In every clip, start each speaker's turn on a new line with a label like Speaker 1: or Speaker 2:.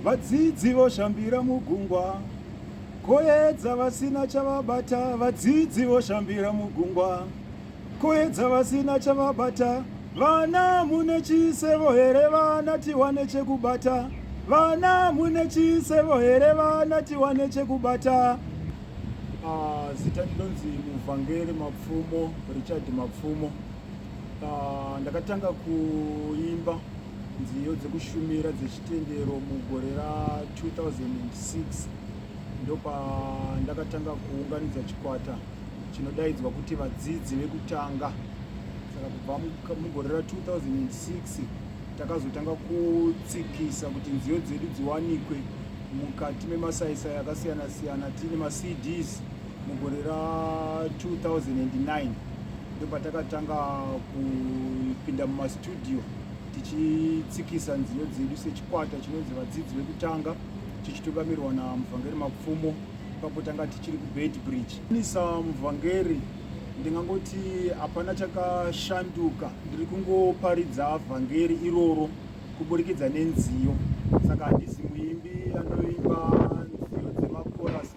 Speaker 1: Vadzidzi voshambira mugungwa. Koyedza vasina chavabata. Vadzidzi voshambira mugungwa. Koyedza vasina chavabata. Vana mune chisevo here vana tiwane chekubata. Vana mune chisevo here vana tiwane chekubata. Ah, zita ndinonzi muvhangeri mapfumo richard mapfumo ah, ndakatanga kuimba nziyo dzekushumira dzechitendero mugore ra 2006 ndopandakatanga kuunganidza chikwata chinodaidzwa kuti vadzidzi vekutanga saka kubva mugore ra 2006 takazotanga kutsikisa kuti nziyo dzedu dziwanikwe mukati memasaisai akasiyana siyana tiine macds mugore ra 2009 ndopatakatanga kupinda mumastudio tichitsikisa nziyo dzedu sechikwata chinonzi vadzidzi vekutanga tichitungamirirwa namuvhangeri mapfumo ipapo tanga tichiri kubed bridge nisa muvhangeri ndingangoti hapana chakashanduka ndiri kungoparidza vhangeri iroro kuburikidza nenziyo saka handisi muimbi anoimba nziyo dzemakorasi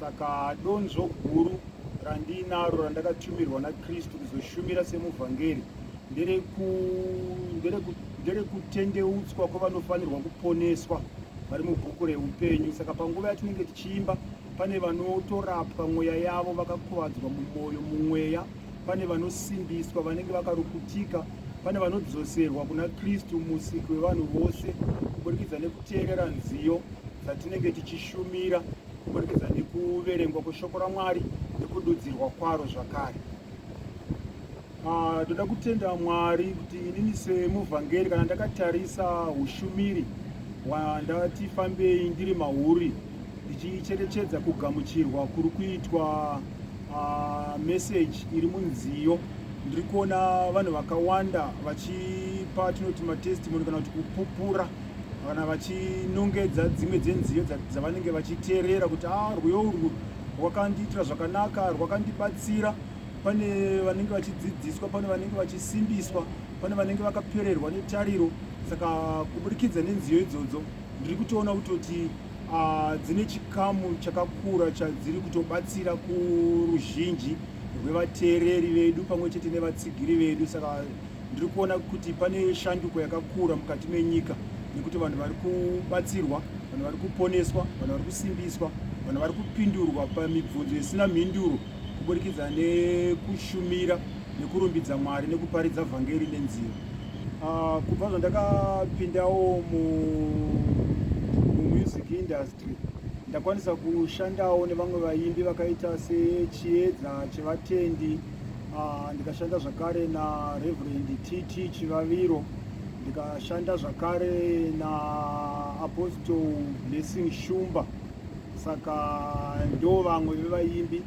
Speaker 1: saka donzvo guru randiinaro randakatumirwa nakristu kuzoshumira semuvhangeri nderekutendeutswa kwavanofanirwa kuponeswa vari mubhuku reupenyu saka panguva yatinenge tichiimba pane vanotorapwa mweya yavo vakakuvadzwa mumwoyo mumweya pane vanosimbiswa vanenge vakarukutika pane vanodzoserwa kuna kristu musiki wevanhu vose kuburikidza nekuteerera nziyo dzatinenge tichishumira kuburikidza nekuverengwa kweshoko ramwari nekududzirwa kwaro zvakare ah, ndoda kutenda mwari kuti inini semuvhangeri kana ndakatarisa ushumiri wandati fambei ndiri mauri ndichicherechedza kugamuchirwa kuri kuitwa Uh, message iri munziyo ndiri kuona vanhu vakawanda vachipa tinoti matestimony kana kuti kupupura kana vachinongedza dzimwe dzenziyo dzavanenge vachiteerera kuti a ah, rwiyo urwu rwakandiitira zvakanaka rwakandibatsira pane vanenge vachidzidziswa pane vanenge vachisimbiswa pane vanenge vakapererwa netariro saka kuburikidza nenziyo idzodzo ndiri kutoona kutoti uh, dzine chikamu chakakura chadziri kutobatsira kuruzhinji rwevateereri vedu pamwe chete nevatsigiri vedu saka ndiri kuona kuti pane shanduko yakakura mukati menyika nekuti vanhu vari kubatsirwa vanhu vari kuponeswa vanhu vari kusimbiswa vanhu vari kupindurwa pamibvunzo isina mhinduro kuburikidza nekushumira nekurumbidza mwari nekuparidza vhangeri nenzira Uh, kubva zvandakapindawo mu mumusic industry ndakwanisa kushandawo nevamwe vaimbi vakaita sechiedza chevatendi uh, ndikashanda zvakare na reverend tt chivaviro ndikashanda zvakare na apostle blessing shumba saka ndo vamwe vevaimbi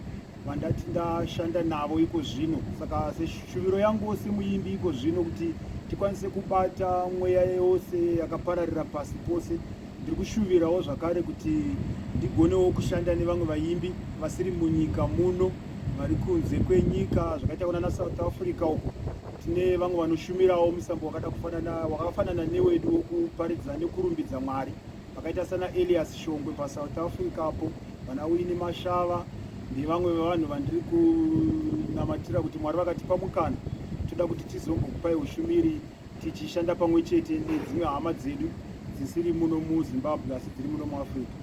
Speaker 1: vandati ndashanda navo iko zvino saka seshuviro yangu semuimbi iko zvino kuti tikwanise kubata mweya yose yakapararira pasi pose ndiri kushuvirawo zvakare kuti ndigonewo kushanda nevamwe vaimbi vasiri munyika muno vari kunze kwenyika zvakaita kunana south africa uko tine vamwe vanoshumirawo musambo wakada kufanana wakafanana newedu wokuparidza nekurumbidza mwari vakaita sana Elias Shongwe paSouth Africa apo vana Wini Mashava nevamwe vevanhu vandiri kunamatira kuti Mwari vakatipa mukana toda kuti tizombokupai ushumiri tichishanda pamwe chete nedzimwe hama dzedu dzisiri muno muZimbabwe asi dziri muno muAfrica.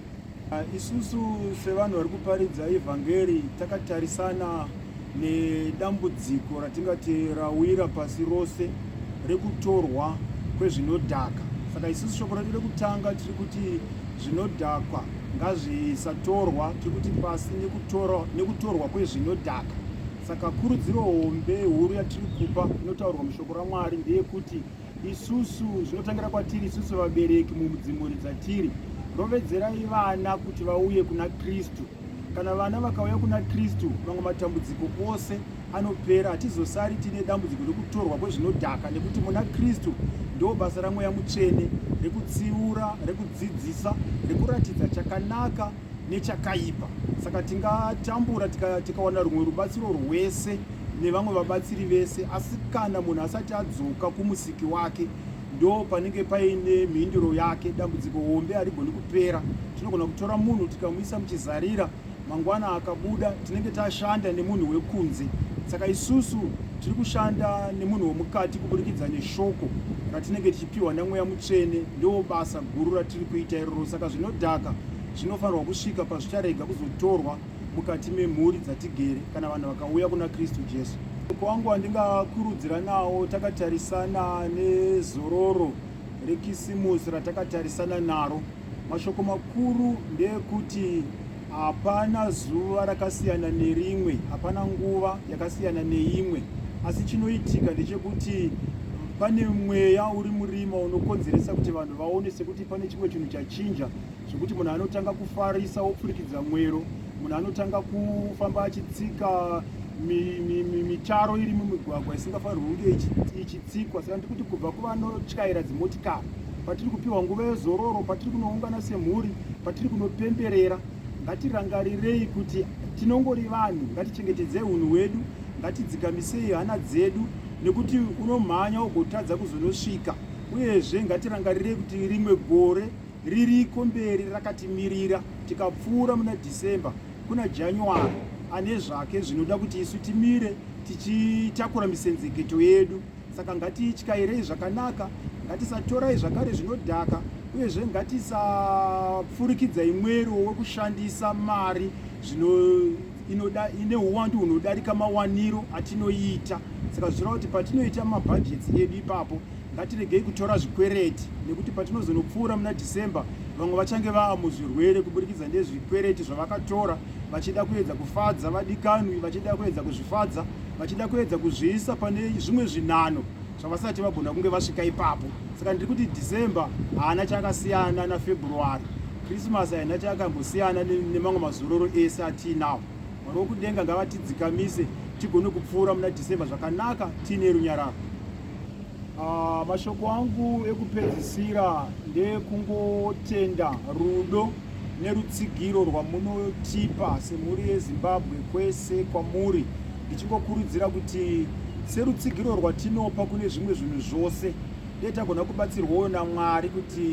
Speaker 1: Ah, isusu sevanhu vari kuparidza evhangeri takatarisana nedambudziko ratingati rawira pasi rose rekutorwa kwezvinodhaka saka isusu shoko redu rekutanga tiri kuti zvinodhakwa ngazvisatorwa tiri kuti pasi nekutorwa kwezvinodhaka saka kurudziro hombe huru yatiri kupa inotaurwa mushoko ramwari ndeyekuti isusu zvinotangira kwatiri isusu vabereki mumudzimuri dzatiri rovedzerai vana kuti vauye kuna kristu Kana vana vakauya kuna Kristu, mamwe matambudziko ose anopera. Hatizosari tine dambudziko rekutorwa kwezvinodhaka, nekuti muna Kristu ndo basa ramweya mutsvene rekutsiura, rekudzidzisa, rekuratidza chakanaka nechakaipa. Saka tingatambura tikawana tika rumwe rubatsiro rwese nevamwe vabatsiri vese, asi kana munhu asati adzoka kumusiki wake ndo panenge paine mhinduro yake dambudziko hombe harigoni kupera tinogona kutora munhu tikamuisa muchizarira mangwana akabuda tinenge tashanda nemunhu wekunze saka isusu tiri kushanda nemunhu wemukati kuburikidza neshoko ratinenge tichipiwa namweya mutsvene ndiwo basa guru ratiri kuita iroro saka zvinodhaka zvinofanirwa kusvika pazvicharega kuzotorwa mukati memhuri dzatigere kana vanhu vakauya kuna kristu jesu uko wangu wandingakurudzira nawo takatarisana nezororo rekisimusi ratakatarisana naro mashoko makuru ndeekuti hapana zuva rakasiyana nerimwe hapana nguva yakasiyana neimwe asi chinoitika ndechekuti pane mweya uri murima unokonzeresa kuti vanhu vaone sekuti pane chimwe chinhu chachinja zvekuti munhu anotanga kufarisa wopfurikidza mwero munhu anotanga kufamba achitsika mitaro iri mumigwagwa isingafanirwi kunge ichitsikwa saka ndikuti kubva kuvanotyaira dzimotikari patiri kupiwa nguva yezororo patiri kunoungana semhuri patiri kunopemberera ngatirangarirei kuti tinongori vanhu ngatichengetedzei unhu hwedu ngatidzikamisei hana dzedu nekuti unomhanya ugotadza kuzonosvika uyezve ngatirangarirei kuti rimwe gore ririko mberi rakatimirira tikapfuura muna December kuna January ane zvake zvinoda kuti isu timire tichitakura misenzeketo yedu saka ngatiityairei zvakanaka ngatisatorai zvakare zvinodhaka uyezve ngatisapfurikidzai mwero wekushandisa mari inoda ine uwandu hunodarika mawaniro atinoita saka zvichireva kuti patinoita mabhajeti edu ipapo Ngatiregei kutora zvikwereti nekuti patinozonopfuura muna December vamwe vachange vava muzvirwere kuburikidza nezvikwereti zvavakatora vachida kuedza kufadza vadikanwi, vachida kuedza kuzvifadza, vachida kuedza kuzviisa pane zvimwe zvinano zvavasati vagona kunge vasvika ipapo. Saka ndiri kuti December haana chakasiyana naFebruary. Christmas haina chakambosiyana nemamwe mazororo ese atiinawo. Mwari wokudenga ngavatidzikamise tigone kupfuura muna December zvakanaka tiine runyararo. Ah, mashoko angu ekupedzisira ndekungotenda rudo nerutsigiro rwamunotipa semhuri yezimbabwe kwese kwamuri ndichingokurudzira kuti serutsigiro rwatinopa kune zvimwe zvinhu zvose dei tagona kubatsirwawo namwari kuti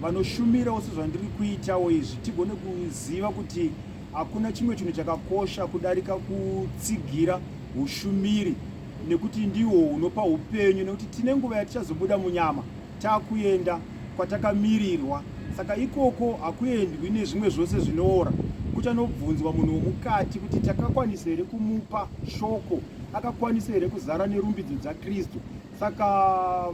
Speaker 1: vanoshumirawo sezvandiri kuitawo izvi tigone kuziva kuti hakuna chimwe chinhu chakakosha kudarika kutsigira ushumiri nekuti ndiwo unopa upenyu nekuti tine nguva yatichazobuda munyama takuenda kwatakamirirwa saka ikoko hakuendwi nezvimwe zvose zvinoora kuchanobvunzwa munhu womukati kuti takakwanisa here kumupa shoko akakwanisa here kuzara nerumbidzo dzakristu saka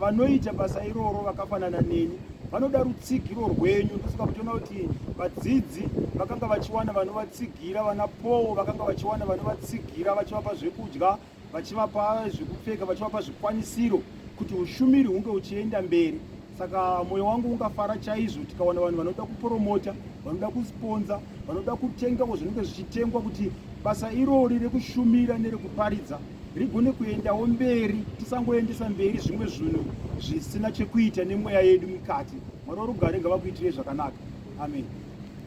Speaker 1: vanoita basa iroro vakafanana neni vanoda rutsigiro rwenyu ndosaka kutiona kuti vadzidzi vakanga vachiwana vanovatsiga Gira vana Paul vakanga vachiwana vanovatsigira vachivapa zvekudya, vachivapa zvekupfeka, vachivapa zvikwanisiro kuti ushumiri hunge uchienda mberi. Saka moyo wangu ungafara chaizvo tikawana vanhu vanoda kupromota, vanoda kusponza, vanoda kutengawo zvinenge zvichitengwa kuti basa irori rekushumira nerekuparidza rigone kuendawo mberi, tisangoendesa mberi zvimwe zvinhu zvisina chekuita nemweya yedu mukati. Mwari warugare ngavakuitirei zvakanaka. Amen.